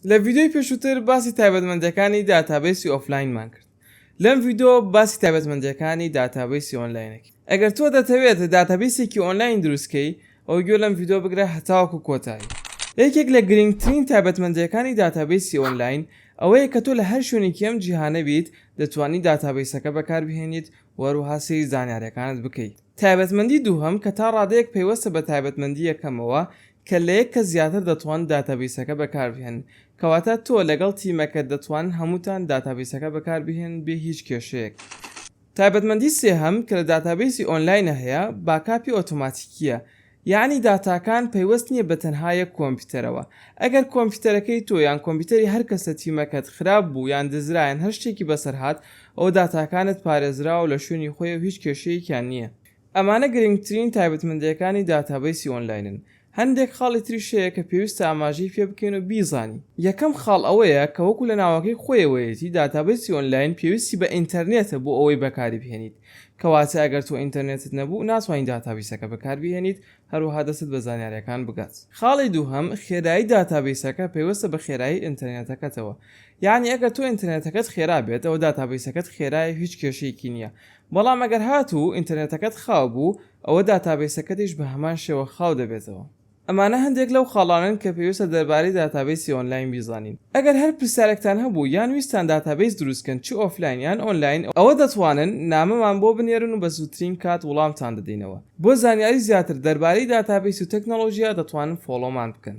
لە ڤیدیۆی پێشووتر باسی تایبەتمەندیەکانی داتابەیسی ئۆفلاینمان کرد لەم ڤیدۆ باسی تایبەتمەندیەکانی داتابەیسی ئۆنلاینەکەین ئەگەر تۆ دەتەوێت داتابەیسێکی ئۆنلاین دروستکەی ئەو گوێ لەم ڤیدۆ بگرە هەتاوەکو کۆتایی یەکێک لە گرنگترین تایبەتمەندیەکانی داتابەیسی ئۆنلاین ئەوەیە کە تۆ لە هەر شوێنێکی ئەم جیهانە بیت دەتوانی داتابەیسەکە بەکاربهێنیت و هەروەها سەیری زانیاریەکانت بکەیت تایبەتمەندی دووهەم کە تا ڕادەیەک پەیوەستە بە تایبەتمەندی یەکەمەوە کە لە یەک کەس زیاتر دەتوان داتابەیسەکە بەکاربهێنن کەواتە تۆ لەگەڵ تیمەکەت دەتوانن هەمووتان داتابەیسەکە بەکاربهێنن بێ هیچ کێشەیەک. تایبەتمەندی سێهەم کە لە داتابەیسی ئۆنلاینە هەیە باکاپی ئۆتۆماتیکییە یەعنی داتاکان پەیوەست نییە بە تەنها یەک کۆمپیوتەرەوە. ئەگەر کۆمپیوتەرەکەی تۆ یان کۆمپیوتەری هەر کەس لە تیمەکەت خراپ بوو یان دزرا یان هەر شتێکی بەسەر هات، ئەوە داتاکانت پارێزراوە و لە شوێنی خۆی و هیچ کێشەیەکیان نییە. ئەمانە گرنگترین تایبەتمەندییەکانی داتابەیسی ئۆنلاینن. هەندێک خاڵی تریش هەیە کە پێویستە ئاماژەی پێ بکەین و بیزانین. یەکەم خاڵ ئەوەیە کە وەکو لە ناوەکەی خۆیەوەیەتی، داتابەیسی ئۆنلاین پێویستی بە ئینتەرنێتە بۆ ئەوەی بەکاری بهێنیت. کەواتە ئەگەر تۆ ئینتەرنێتت نەبوو ناتوانی داتابەیسەکە بەکاربهێنیت هەروەها دەستت بە زانیاریەکان بگات. خاڵی دووهەم، خێرایی داتابەیسەکە پەیوەستە بە خێرایی ئینتەرنێتەکەتەوە یانی ئەگەر تۆ ئینتەرنێتەکەت خێرا بێت ئەوە داتابەیسەکەت خێرایە و هیچ کێشەیەکی نییە بەڵام ئەگەر هاتوو ئینتەرنێتەکەت خاو بوو ئەوە داتابەیسەکەتیش بە هەمان شێوە خاو دەبێتەوە. ئەمانە هەندێک لەو خاڵانەن کە پێویستە دەربارەی داتابەیسی ئۆنلاین بیزانین. ئەگەر هەر پرسیارێکتان هەبوو یان ویستتان داتابەیس دروست کەن چ ئۆفلاین یان ئۆنلاین ئەوە دەتوانن نامەمان بۆ بنێرن و بە زووترین کات وڵامتان دەدەینەوە. بۆ زانیاری زیاتر دەربارەی داتابەیس و تەکنەڵۆژیا دەتوانن فۆڵۆمان بکەن.